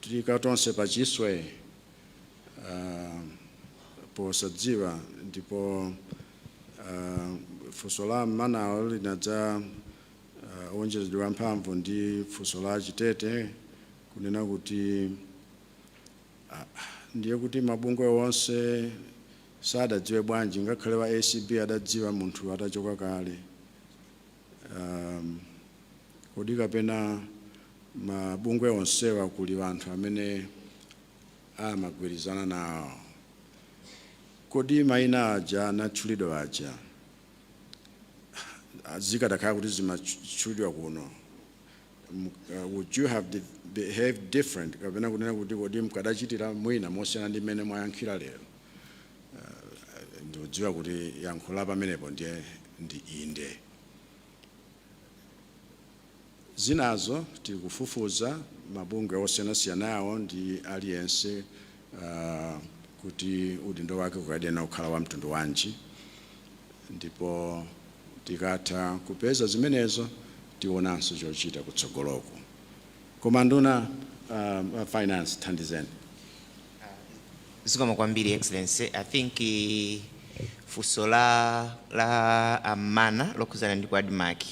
Tiika tonse pachiswe ah, posadziwa ndipo ah, funso la a Mmanawo linadza ah, wonjezedwa mphamvu ndi funso la a Chitete kunena kuti ah, ndiye kuti mabungwe onse sadadziwe bwanji ngakhale wa ACB adadziwa munthu atachoka kale Kodi kapena mabungwe onsewa kuli anthu amene amagwirizana nawo? Kodi mayina aja anatchulidwa aja zikadakhala kuti zimatchulidwa kuno, would you have behaved different kapena kunena kuti kodi mkadachitira mwina mosiyana ndi mmene mwayankhira lero? Eh, ndikudziwa kuti yankho la pamenepo ndiye ndi inde zinazo tikufufuza mabungwe osiyanasiyanawo ndi aliyense ah, kuti udindo wake ukadayenera kukhala wa mtundu wanji ndipo tikatha kupeza zimenezo tionanso chochita kutsogoloku koma nduna a finance thandizeni Zikomo kwambiri Excellency. I think eh, funso la, la a Mmana lokhuzana ndi ku admarc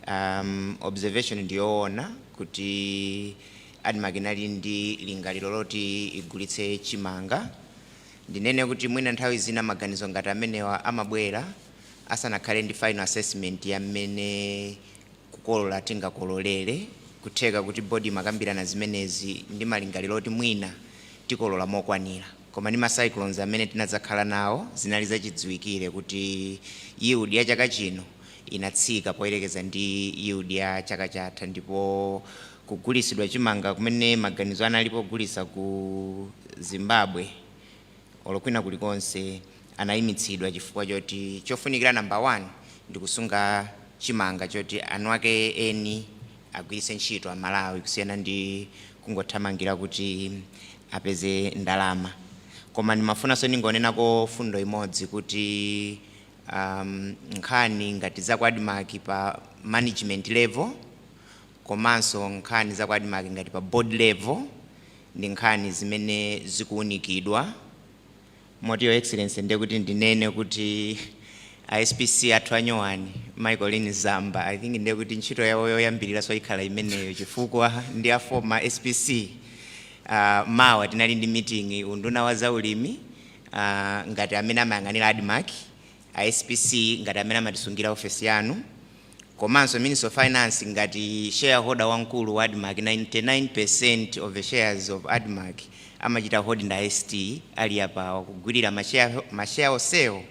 um, observation ndiyoona kuti admarc inali ndi lingaliro loti igulitse chimanga ndinene kuti mwina nthawi zina maganizo ngati amenewa amabwera asanakhale ndi final assessment ya mmene kukolola tingakololere, kutheka kuti board imakambirana zimenezi ndi malingaliro oti mwina tikolola mokwanira koma ndi ma cyclones amene tinadzakhala nawo zinali zachidziwikire kuti yield ya chaka chino inatsika poyerekeza ndi yield ya chaka chatha ndipo kugulisidwa chimanga kumene maganizo analipo ogulisa ku Zimbabwe olo kwina kulikonse anayimitsidwa chifukwa choti chofunikira number one ndikusunga chimanga choti eni ake eni agwiritse ntchito a Malawi kusiyana ndi kungothamangira kuti apeze ndalama koma ndimafunanso ndingonenako fundo imodzi kuti um, nkhani ngati za ku Admarc pa management level komanso nkhani za ku Admarc ngati pa board level ndi nkhani zimene zikuunikidwa moti your excellency ndiye kuti ndinene kuti a SPC athu anyowani mayi Colleen Zamba I think ndiye kuti ntchito yawo yoyambiriranso ikhala imeneyo chifukwa ndi a former SPC uh, mawa tinali ndi meeting unduna wa zaulimi uh, ngati amene amayang'anira admarc a SPC ngati amene amatisungira ofesi yanu komanso Ministry of Finance ngati shareholder wamkulu wa Admarc, 99% of the shares of Admarc amachita hold ndi a ST ali apawa kugwilira ma share onsewo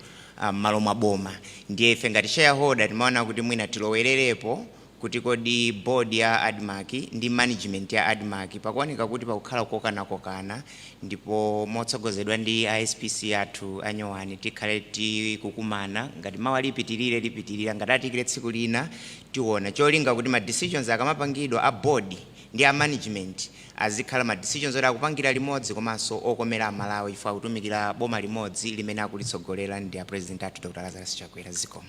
mmalo mwa boma. Ndiye ife ngati shareholder timaona kuti mwina tilowelerepo kuti kodi board ya Admarc ndi management ya Admarc pakuoneka kuti pakukhala kukokanakokana, ndipo motsogozedwa ndi a SPC athu anyowani tikhale tikukumana ngati mawa likapitirire lipitirira ngati atiikire tsiku lina tiona cholinga kuti ma decisions akamapangidwa a board ndi a management azikhala ma decisions oti akupangira limodzi komanso okomera amalawi chifukwa akutumikira boma limodzi limene akulitsogolera ndi a president athu dr lazarus chakwera zikomo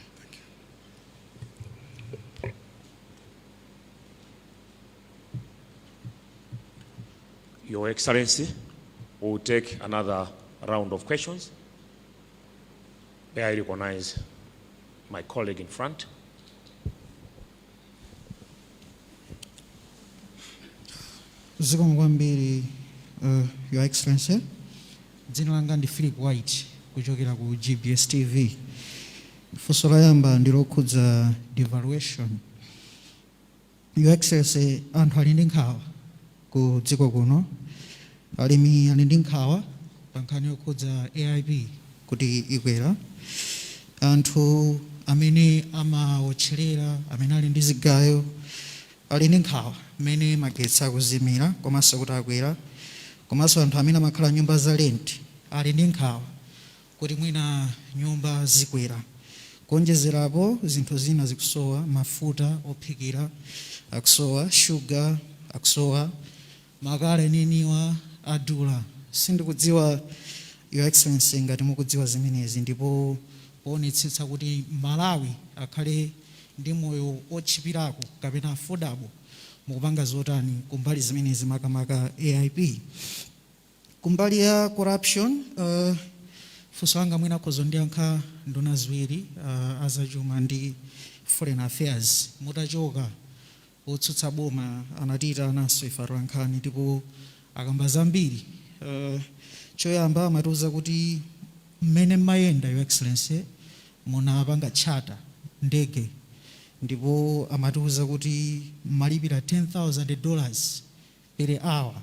Your Excellency, we will take another round of questions. May I recognize my colleague in front? zikomo kwambiri uh, your excellency dzina langa ndi philip white kuchokera ku gbs tv funso loyamba ndi lokhudza devaluation Your Excellency anthu ali ndi nkhawa ku dziko kuno, alimi ali ndi nkhawa pa nkhani yokhudza AIP kuti ikwera, anthu amene amawotcherera, amene ali ndi zigayo ali ndi nkhawa mmene magetsi akuzimira komanso kuti akwera komanso anthu amene amakhala nyumba za rent ali ndi nkhawa kuti mwina nyumba zikwera. Kuonjezerapo zinthu zina zikusowa, mafuta ophikira akusowa, sugar akusowa, makala enieniwa adula. Sindikudziwa your excellency ngati mukudziwa zimenezi ndipo poonetsetsa kuti m'Malawi akhale ndi moyo otchipirako kapena affordable mukupanga zotani kumbali zimenezi makamaka AIP? Kumbali ya corruption funso langa mwina akhoza kundiyankha nduna ziwiri a zachuma ndi foreign affairs, mutachoka otsutsa boma anatiitananso ife atolankhani ndipo akamba zambiri choyamba amatiuza kuti mmene mmayenda your excellency munapanga charter ndege ndipo amatiuza kuti mmalipira 10,000 dollars per hour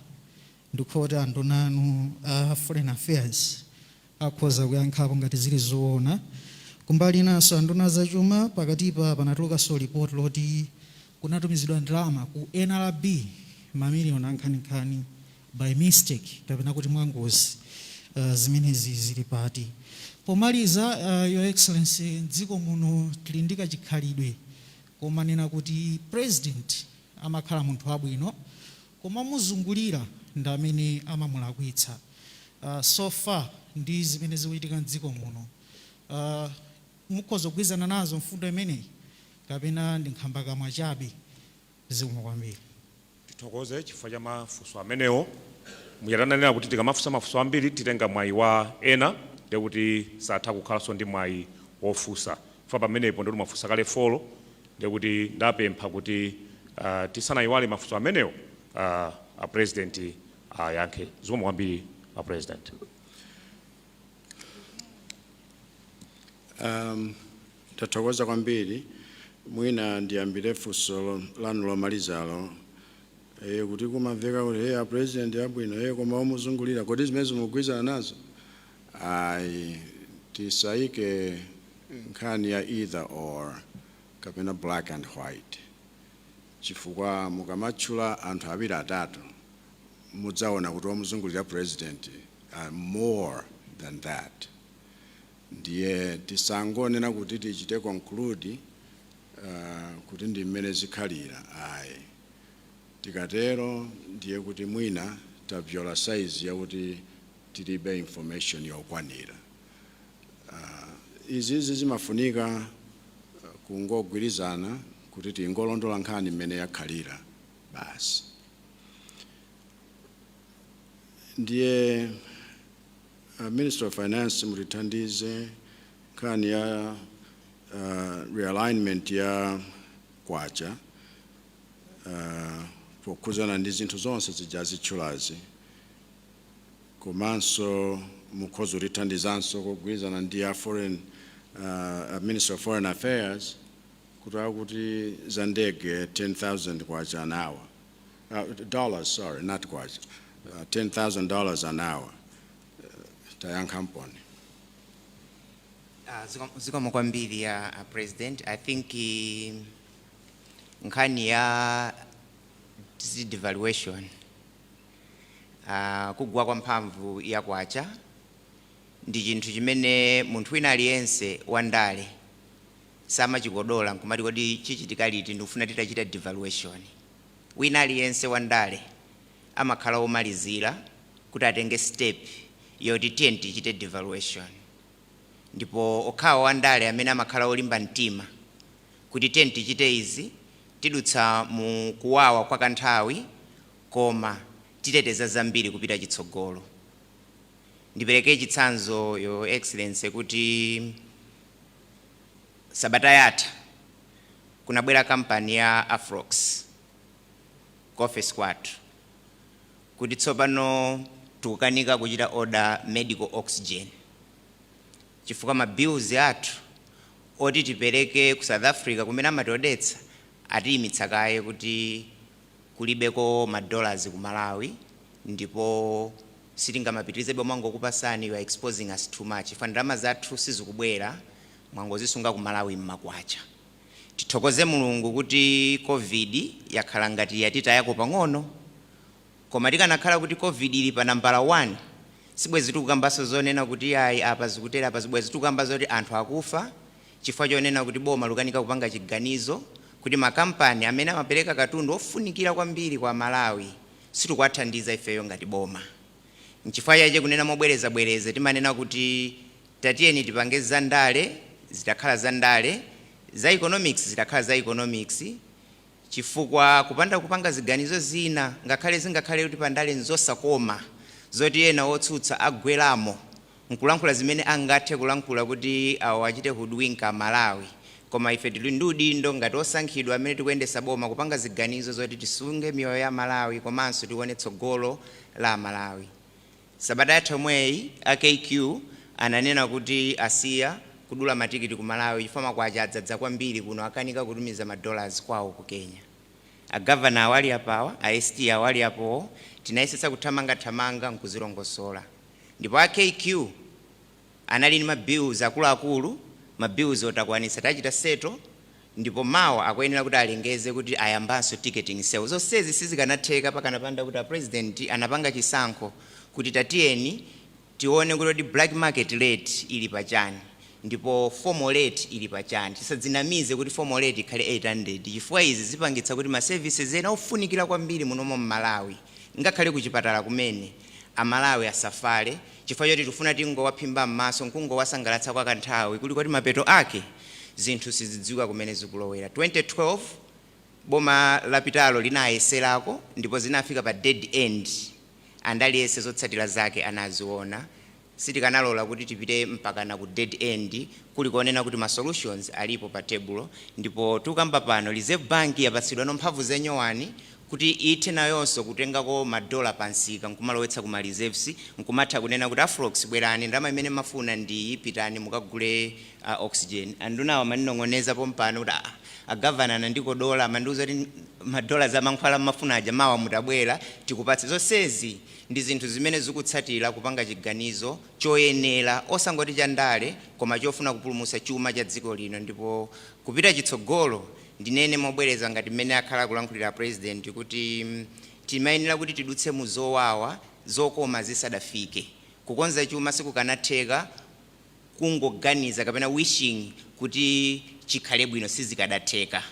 Ndi kuti anduna anu a Foreign Affairs akhoza kuyankhapo ngati zili zoona. Kumbali inanso anduna a zachuma pakatipa panatulukanso report loti kunatumizidwa ndalama ku nrb ma million ankhaninkhani by accident kapena kuti mwangozi. Zimenezi zili pati? Pomaliza your excellency m'dziko muno tili ndi kachikhalidwe komanena kuti president amakhala munthu wabwino koma omuzungulira ndi amene amamulakwitsa so far ndi zimene zikuchitika mdziko muno mukhoza kugwirizana nazo mfundo imeneyi kapena ndi nkhambakamwa chabe zikomo kwambiri. Tithokoze chifukwa cha mafunso amenewo. Muja tananena kuti tikamafunsa mafunso ambiri titenga mwayi wa ena ndekuti satha kukhalanso ndi mwayi wofunsa. Apa pamenepo ndekuti mwafunsa kale folo, ndekuti ndapempha kuti tisanayiwale mafunso amenewo a president ayankhe. Zikomo kwambiri a president. Ndathokoza kwambiri. Mwina ndiyambire funso lanu lomalizalo kuti kumamveka kuti a president ndi abwino koma omuzungulira kodi zimenezo mukugwirizana nazo? ayi tisaike nkhani ya either or kapena black and white chifukwa mukamatchula anthu awiri atatu mudzaona kuti omuzungulira president more than that ndiye tisangonena kuti tichite conclude uh, kuti ndi mmene zikhalira ayi tikatero ndiye kuti mwina tabvyola saizi yakuti tilibe information yokwanira. Izizi zimafunika kungogwirizana kuti tingolondola nkhani mmene yakhalira basi. Ndiye uh, Minister of Finance mutithandize nkhani ya uh, realignment ya kwacha uh, pokhuzana ndi zinthu zonse zija atchulazi. komanso mukhoza kutithandizanso kugwirizana ndi a foreign uh, minister of foreign affairs kuti akuti za ndege 10000 kwacha an hour uh, dollars sorry not kwacha uh, 10000 dollars an hour uh, tayankhamponi Ah, ziko- zikomo kwambiri a president i think eh, nkhani ya zi- devaluation Ah, kugwa kwa mphamvu ya kwacha ndi chinthu chimene munthu wina aliyense wandale samachikonda ndiye kumati kodi chichitika liti ndikufuna titachita devaluation wina aliyense wandale amakhala womalizira kuti atenge step yoti tiyeni tichite devaluation ndipo okhawo wandale amene amakhala olimba mtima kuti tiyeni tichite izi tidutsa mu kuwawa kwa kanthawi Koma titeteza zambiri kupita chitsogolo. Ndipereke chitsanzo, Your Excellency, kuti sabata yatha kunabwera kampani ya Afrox ku ofesi kwathu kuti tsopano tikukanika kuchita order medical oxygen chifukwa ma bills athu oti tipereke ku South Africa kumene timaodetsa atiyimitsa kaye kuti kulibeko ma dollars ku malawi ndipo sitingamapitirizebe kumangokupasani you are exposing us too much chifukwa ndalama zathu sizikubwera mwangozisunga ku malawi mma kwacha tithokoze mulungu kuti covid yakhala ngati yatitayako pang'ono koma tikanakhala kuti covid ili pa nambala 1 sibwezi tikukambanso zonena kuti ayi apa zikutere apa bwezi tikukamba zoti anthu akufa Chifukwa chonena kuti boma likukanika kupanga chiganizo kuti makampani amene amapereka katundu wofunikira kwambiri kwa Amalawi sitikuwathandiza ifeyo ngati boma. Nchifukwa chache kunena mobwerezabwereza timanena kuti tatiyeni tipange za ndale zitakhala za ndale, za economics zitakhala za economics, Chifukwa kupanda kupanga ziganizo zina, ngakhale zingakhale kuti pandale nzosakoma, zoti ena otsutsa agweramo nkulankhula zimene angathe kulankhula kuti awachite hoodwink a Malawi, koma ife tili ndi udindo ngati osankhidwa amene tikuyendesa boma kupanga ziganizo zoti tisunge miyoyo ya Amalawi komanso tione tsogolo la Amalawi. Sabata yatha yomweyi a KQ ananena kuti asiya kudula matikiti ku Malawi chifukwa makwacha adzadza kwambiri kuno akukanika kutumiza ma dollars kwawo ku Kenya. A governor awa ali apawa, a ST awa ali apowo, tinayesetsa kuthamanga thamanga nkuzilongosola ndipo a KQ. anali ndi ma bills akuluakulu, ma bills-wo takwanitsa tachita settle ndipo mawa akuyenera kuti alengeze kuti ayambanso ticketing sales. Zonsezi sizikanatheka pakanapanda kuti a President anapanga chisankho kuti tatiyeni tione kuti kodi black market rate ili pachani ndipo formal rate ili pachani. Tisadzinamize kuti formal rate ikhale 800 chifukwa izi zipangitsa kuti ma services ena ofunikira kwambiri munomo m'Malawi ngakhale kuchipatala kumene, A Malawi asafale chifukwa choti tikufuna tingowaphimba mmaso nkungowasangalatsa kwa kanthawi kuli kuti mapeto ake zinthu sizidziwika kumene zikulowera. 2012 boma lapitalo linayeserako ndipo zinafika pa dead end and aliyense zotsatira zake anaziona. Sitikanalola kuti tipite mpakana ku dead end kuli kunena kuti ma solutions alipo pa tebulo ndipo tukamba pano Reserve Bank yapatsidwano mphamvu za nyowani kuti ithe nayonso kutengako ma dollar pa msika nkumalowetsa ku ma reserves nkumatha kunena kuti a Afrox bwerani ndalama imene mmafuna ndi iyi pitani mukagule oxygen. Andunawa amaninong'oneza pompano kuti aah a Governor anandikodola amandiuza kuti ma dollars amankhwala mmafuna aja mawa mutabwera tikupatse. Zonsezi. ndi zinthu zimene zikutsatira kupanga chiganizo choyenera osangoti cha ndale koma chofuna kupulumutsa chuma cha dziko lino ndipo kupita chitsogolo ndinene mobwereza ngati mmene akhala akulankhulira a President kuti timayenera kuti tidutse mu zowawa zokoma zisadafike. Kukonza chuma sikukanatheka kungoganiza kapena wishing kuti chikhale bwino sizikadatheka.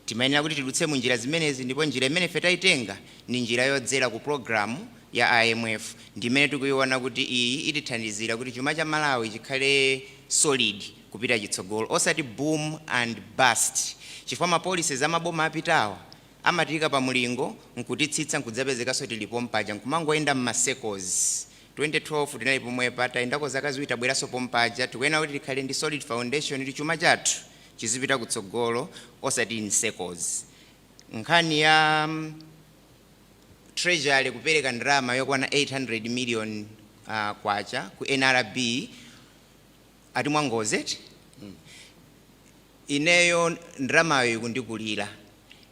Timayenera kuti tidutse mu njira zimenezi ndipo njira imene ife tayitenga ndi njira yodzera ku program ya IMF ndi imene tikuyiona kuti iyi itithandizira kuti chuma cha Malawi chikhale solid kupita chitsogolo osati boom and bust chifukwa ma policies a maboma apitawa amatiyika pa mulingo nkutitsitsa nkudzapezekanso tili pompaja nkumangoyenda mma circles 2012 tinali pomwepa tayendako zaka ziwiri tabweranso pompaja tikuyenera kuti tikhale ndi solid foundation kuti chuma chathu chizipita kutsogolo osati in circles. Nkhani ya treasury kupereka ndalama yokwana 800 million kwacha ku NRB ati mwangozi eti? Ineyo ndalamayo ikundikulira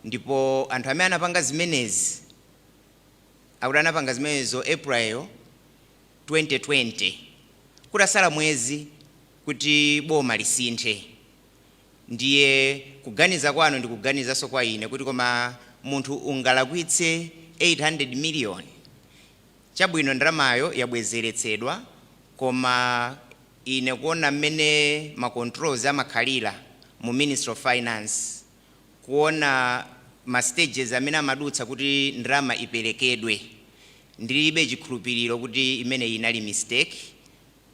ndipo anthu amene anapanga zimenezi akuti anapanga zimenezo April 2020 kutasala mwezi kuti boma lisinthe ndiye kuganiza kwanu ndikuganizanso kwa ine kuti koma munthu ungalakwitse 800 million chabwino ndalamayo yabwezeretsedwa koma ine kuona mmene ma controls amakhalira mu ministry of finance kuona ma stages amene amadutsa kuti ndalama iperekedwe ndilibe chikhulupiriro kuti imeneyi inali mistake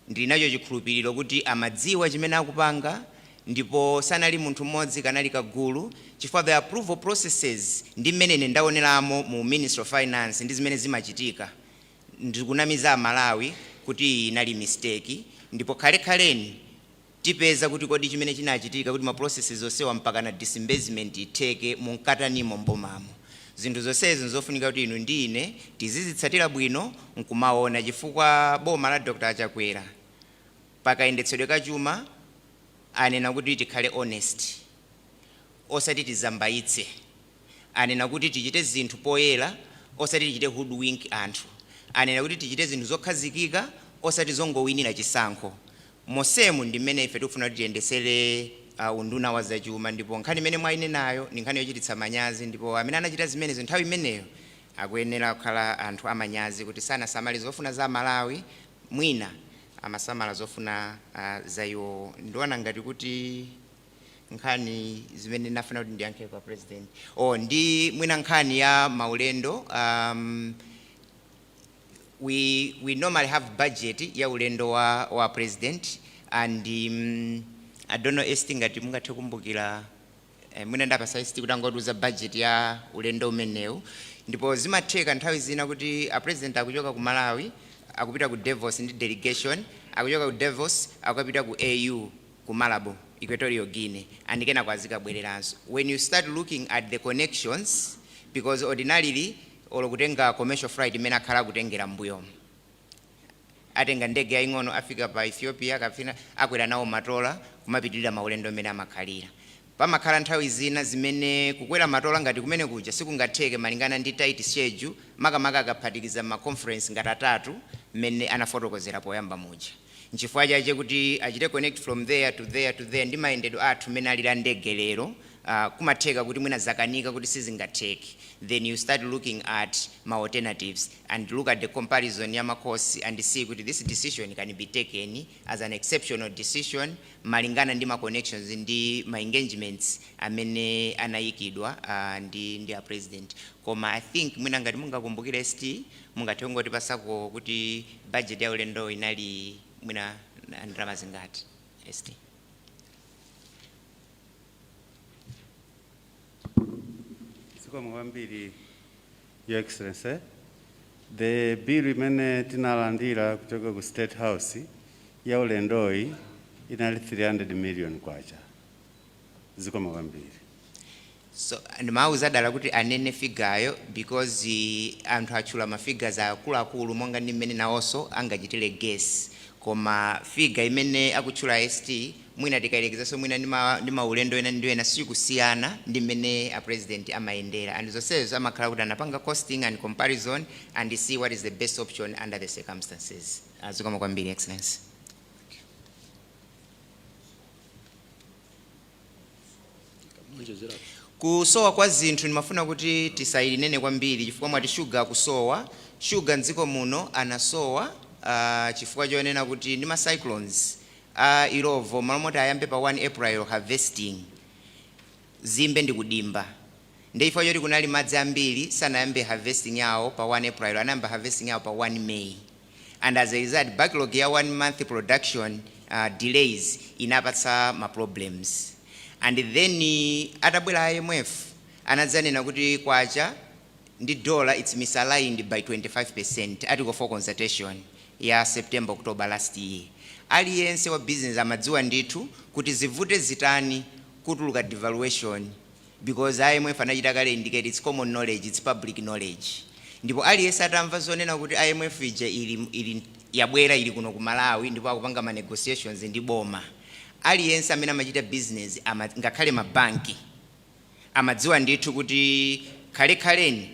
Ndili nacho chikhulupiriro kuti amadziwa chimene akupanga ndipo sanali munthu mmodzi kanali kagulu chifukwa the approval processes ndi mmene ine ndaoneramo mu ministry of finance ndi zimene zimachitika ndikunamiza a Malawi kuti iyi inali mistake ndipo khale khaleni Tipeza kuti kodi chimene chinachitika kuti ma processes onsewa mpakana disbursement itheke munkatani mbomamo. Zinthu zonsezi nzofunika kuti inu ndi ine tizizitsatira bwino nkumaona chifukwa boma la Dr. Chakwera pa kayendetsedwe ka chuma anena kuti tikhale honest osati tizambaitse. Anena kuti tichite zinthu poyera osati tichite hoodwink anthu. Anena kuti tichite zinthu zokhazikika osati zongowinira chisankho. Mosemu ndi mmene ife tikufuna kuti tiyendesere a, unduna wa zachuma, ndipo nkhani imene mwainenayo ndi nkhani yochititsa manyazi ndipo amene anachita zimenezo nthawi imeneyo akuyenera kukhala anthu amanyazi kuti sanasamale zofuna za Amalawi, mwina amasamala zofuna a, za iwowo. Ndiona ngati kuti nkhani zimene nafuna kuti ndiyankhe kwa President, o, ndi mwina nkhani ya maulendo a, we, we normally have budget ya ulendo wa, wa president and um, I don't know ST ngati mungathe kumbukira eh, mwina ndipasa ST kuti angotiuza budget ya ulendo umenewu ndipo zimatheka nthawi zina kuti a president akuchoka ku Malawi akupita ku Davos ndi delegation akuchoka ku Davos akupita ku AU ku Malabo Equatorial Guinea and kenako azikabwereranso when you start looking at the connections because ordinarily olo kutenga commercial flight imene akhala akutengera mmbuyomu atenga ndege yaying'ono afika pa Ethiopia kapena akwera nawo matola kumapitirira maulendo mmene amakhalira. Pamakhala nthawi zina zimene kukwera matola ngati kumene kuja sikungatheke malingana ndi tight schedule makamaka akaphatikiza ma conference ngati atatu mmene anafotokozera poyamba muja. Nchifukwa chache kuti achite connect from there to there to there ndi mayendedwe athu mmene alili a ndege lero aah kumatheka kuti mwina zakanika kuti sizingatheke then you start looking at ma alternatives and look at the comparison ya ma costs and see kuti this decision can be taken as an exceptional decision malingana ndi ma connections ndi ma engagements amene anayikidwa aah ndi ndi a President. Koma I think mwina ngati mungakumbukire ST Mungathe kungotipasako kuti budget ya ulendowo inali mwina ndalama zingati? ST. Zikomo kwambiri Your Excellency. The bill imene tinalandira kuchoka ku State House ya ulendoyi inali 300 million kwacha. zikomo kwambiri. So, ndimawuza dala kuti anene figayo because anthu atchula ma figures akuluakulu monga ndi mmene nawonso angachitire guess koma figa imene akutchula ST mwina tikayerekezanso mwina ndi ma- ndi maulendo ena ndi ena sikusiyana ndi mmene a president amayendera and zonsezo amakhala kuti anapanga costing and comparison and see what is the best option under the circumstances zikomo kwambiri excellency kusowa kwa zinthu ndimafuna kuti tisayilinene kwambiri chifukwa mwati shuga kusowa shuga mdziko muno anasowa uh, chifukwa chonena kuti ndi ma cyclones a Illovo malo moti ayambe pa 1 april harvesting zimbe ndi kudimba ndi chifukwa choti kunali madzi ambiri sanayambe harvesting yawo pa 1 april anayamba harvesting yawo pa 1 may and as a result backlog ya 1 month production delays inapatsa ma problems and then atabwera IMF anadzanena kuti kwacha ndi dollar its misaligned by 25% article 4 consultation ya September October last year aliyense wa business amadziwa ndithu kuti zivute zitani kutuluka devaluation Because IMF anachita kale indicate, its common knowledge, its public knowledge. Ndipo aliyense atamva zonena kuti IMF ija ili, ili, yabwera ili kuno ku Malawi ndipo akupanga ma negotiations ndi boma. Aliyense amene amachita business, ama, ngakhale ma banki, amadziwa ndithu kuti khale khaleni,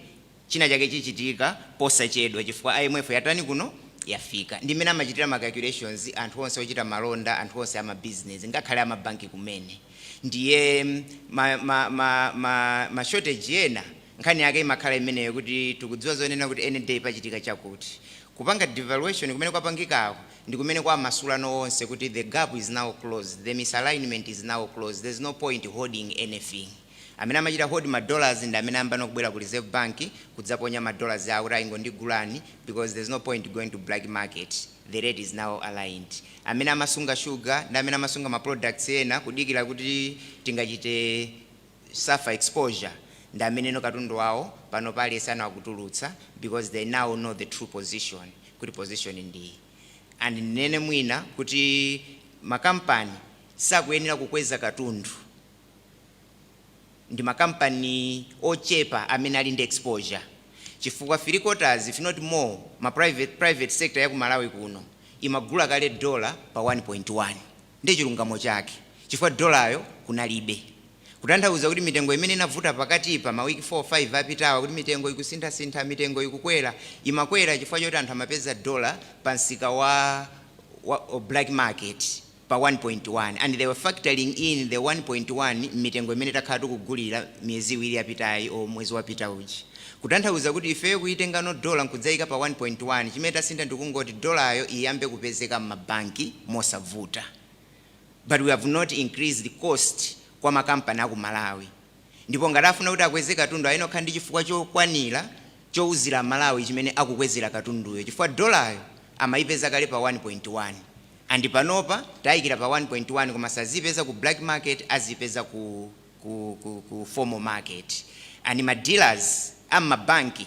China chake chichitika posachedwa chifukwa IMF yatani kuno? Yafika. Ndi mmene amachitira ma calculations anthu onse ochita malonda, anthu onse a ma business, ngakhale a ma bank kumene. Ndiye ma, ma, ma, ma, ma shortage ena nkhani yake imakhala imeneyo kuti tikudziwa zonena kuti any day pachitika chakuti. Kupanga devaluation kumene kwapangikako ndi kumene kwamasulano onse kuti the gap is now closed, the misalignment is now closed, there's no point holding anything. Amene amachita hold ma dollars ndi amene ayambano kubwera ku reserve bank kudzaponya ma dollars awo kuti aa ingondigulani because there's no point going to black market, the rate is now aligned. Amene amasunga sugar ndi amene amasunga ma products ena kudikira kuti tingachite suffer exposure ndi ameneno katundu wawo panopa aliyenseno akutulutsa because they now know the true position kuti position ndi iyi. And ndinene mwina kuti ma company sakuyenera kukweza katundu. ndi ma company ochepa amene ali ndi exposure chifukwa three quarters if not more ma private private sector ya ku Malawi kuno imagula kale dollar pa 1.1 ndi chilungamo chake chifukwa dollar yo kunalibe kutanthauza kuti mitengo imene inavuta pakatipa ma week 4 5 apitawa kuti mitengo ikusintha sintha mitengo ikukwera imakwera chifukwa choti anthu amapeza dollar pa msika wa wa black market pa 1.1 and they were factoring in the 1.1 mmitengo imene takhala tikugulira miyezi iwiri yapitayi or mwezi wapitawu. Kutanthauza kuti ifeyo kuyitengano dollar nkudzaika pa 1.1 chimene tasintha ndikungoti dollar yo iyambe kupezeka mma bank mosavuta but we have not increased cost kwa ma company aku Malawi. ndipo ngati afuna kuti akweze katundu ayenera akhale ndi chifukwa chokwanira chouzira amalawi chimene akukwezera katunduyo chifukwa dolayo amaipeza kale pa 1.1 and panopa taikira pa 1.1 koma saziyipeza ku black market aziyipeza ku ku ku formal market and ma dealers a mmabanki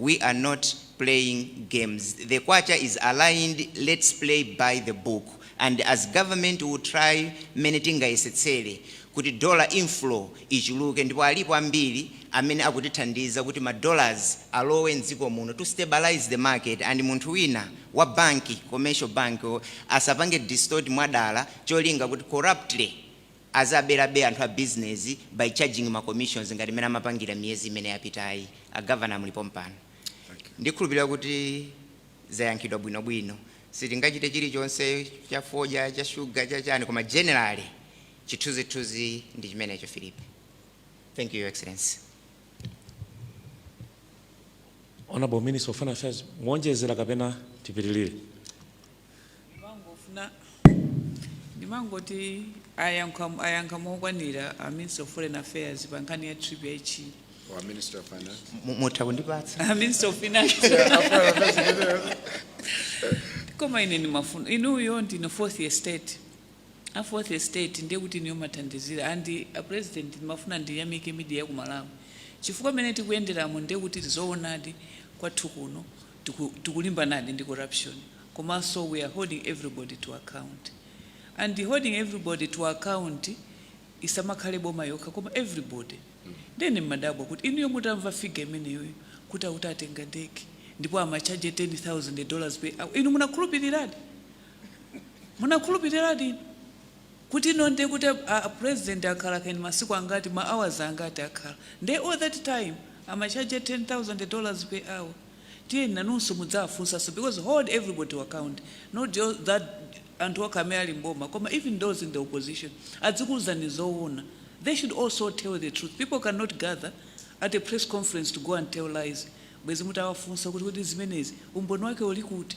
we are not playing games the kwacha is aligned lets play by the book and as government we'll try mmene tingayesetsere kuti dollar inflow ichuluke ndipo alipo ambiri amene akutithandiza kuti ma dollars alowe mdziko muno to stabilize the market and munthu wina wa banki commercial bank asapange distort mwadala cholinga kuti corruptly Aziberabe anthu a business by charging ma commissions ngati mmene amapangira miyezi imene yapitayi. A governor muli pompano. Ndikhulupilira kuti zayankhidwa bwino bwino. Sitingachite chilichonse cha fodya, cha sugar, cha chani koma generally chithunzi thunzi ndi chimenecho Philip. Thank you your excellency. Honorable minister of foreign affairs muonjezera kapena tipitilire? ndimangofuna ndimangoti ayankha ayankha mokwanira a minister of foreign affairs pa nkhani ya trip yaichi Or Minister of Finance. Mu- mutha kundipatsa a minister of finance koma ine ndimafuna inuyo ndine fourth estate a fourth estate ndiye kuti inuyo mathandizira and a president ndimafuna ndiyamike media ya kumalawi chifukwa mene tikuyenderamo ndiye kuti ndizoonadi kwathu kuno tiku tikulimbanadi ndi corruption komanso we are holding everybody to account and holding everybody to account isamakhale boma yokha koma everybody ndiye ndimadabwa kuti inuyo mutamva figa imeneyoyo kuti auti atenga ndege ndipo amatchaja 10000 dollars per hour inu munakhulupiriradi munakhulupiriradi inu Kuti no nde kuti a president akhala kaya masiku angati ma hours angati akhala nde all that time amatchaja 10,000 dollars per hour tiyeni nanunso mudziwafunsanso because hold everybody to account not just that anthu okha amene ali m'boma koma even those in the opposition adzikuuzani zoona they should also tell the truth people cannot gather at a press conference to go and tell lies bwezi mutawafunsa kuti kodi zimenezi umboni wake uli kuti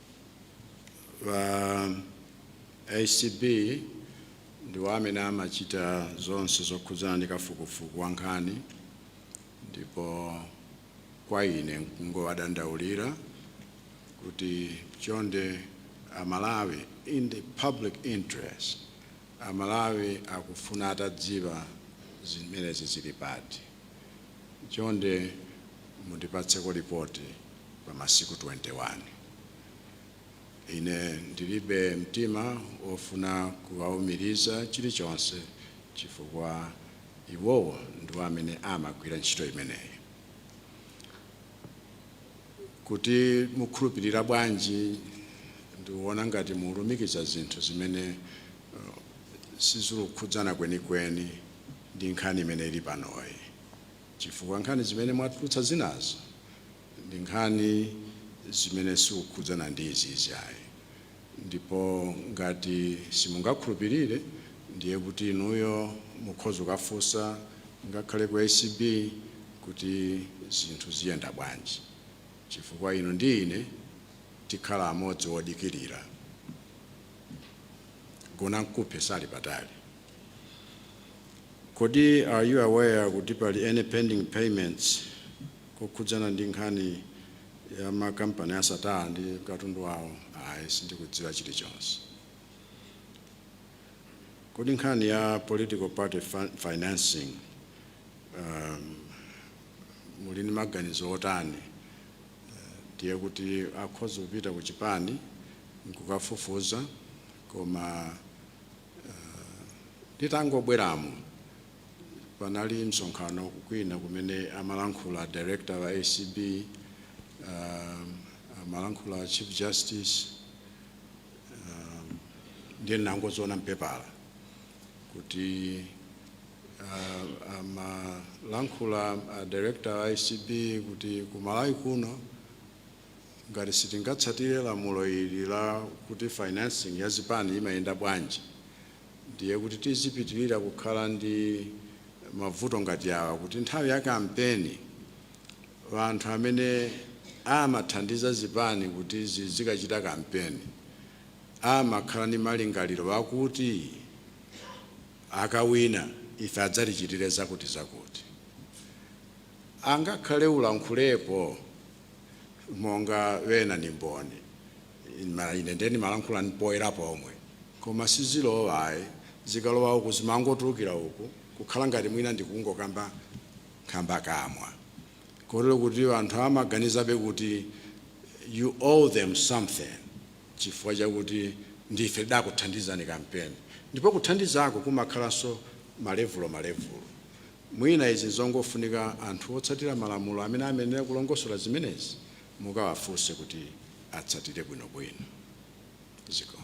a acb ndiwo amene amachita zonse zokhudzana ndi kafukufuku wa nkhani ndipo kwa ine nkungowadandaulira kuti chonde amalawi in the public interest amalawi akufuna atadziwa zimenezi zili pati Chonde mundipatseko lipoti pa masiku 21. Ine ndilibe mtima wofuna kuwaumiriza chilichonse chifukwa iwowo ndiwo amene amagwira ntchito imeneyi. Kuti mukhulupirira bwanji? Ndiona ngati mulumikiza zinthu zimene uh, sizikukhudzana kwenikweni. ndi nkhani imene ili panoyi chifukwa nkhani zimene mwatulutsa zinazo ndi nkhani zimene sikukhudzana ndi izizi ayi ndipo ngati simungakhulupirire ndiye kuti inuyo mukhoza kukafunsa ngakhale ku acb kuti zinthu ziyenda bwanji chifukwa inu ndi ine tikhala amodzi wodikirira gona mkuphe sali patali Kodi are you aware kuti pali any pending payments kokhudzana ndi nkhani ya makampani a Sattar ndi katundu wawo? Ayi, sindikudziwa chilichonse. Kodi nkhani ya political party fin- financing um, muli ndi maganizo otani? ndiye kuti akhoza kupita ku chipani nkukafufuza koma Nditangobweramo panali msonkhano kwina kumene amalankhula director wa acb, amalankhula a chief justice ndiye ndinangoziona m'pepala kuti amalankhula a director a acb kuti ku Malawi kuno Ngati sitingatsatire lamulo ili la kuti financing ya zipani imayenda bwanji, ndiye kuti tizipitirira kukhala ndi mavuto ngati awa, kuti nthawi ya kampeni anthu amene amathandiza zipani kuti zizikachita kampeni amakhala ndi malingaliro akuti akawina ife adzatichitire zakutizakuti. Angakhale ulankhulepo monga wena ni mboni ine ndiye ndimalankhula poyera pomwe koma sizilowa ayi zikalowa uku zimangotulukira uku kukhala ngati mwina ndikungokamba nkhambakamwa kotero kuti anthu amaganizabe kuti you owe them something chifukwa chakuti ndife tidakuthandizani kampeni ndipo kuthandizako kumakhalanso malevulo malevulo Mwina izi nzongofunika anthu otsatira malamulo amene amayenera kulongosola zimenezi mukawafunse kuti atsatire bwinobwino. Zikomo.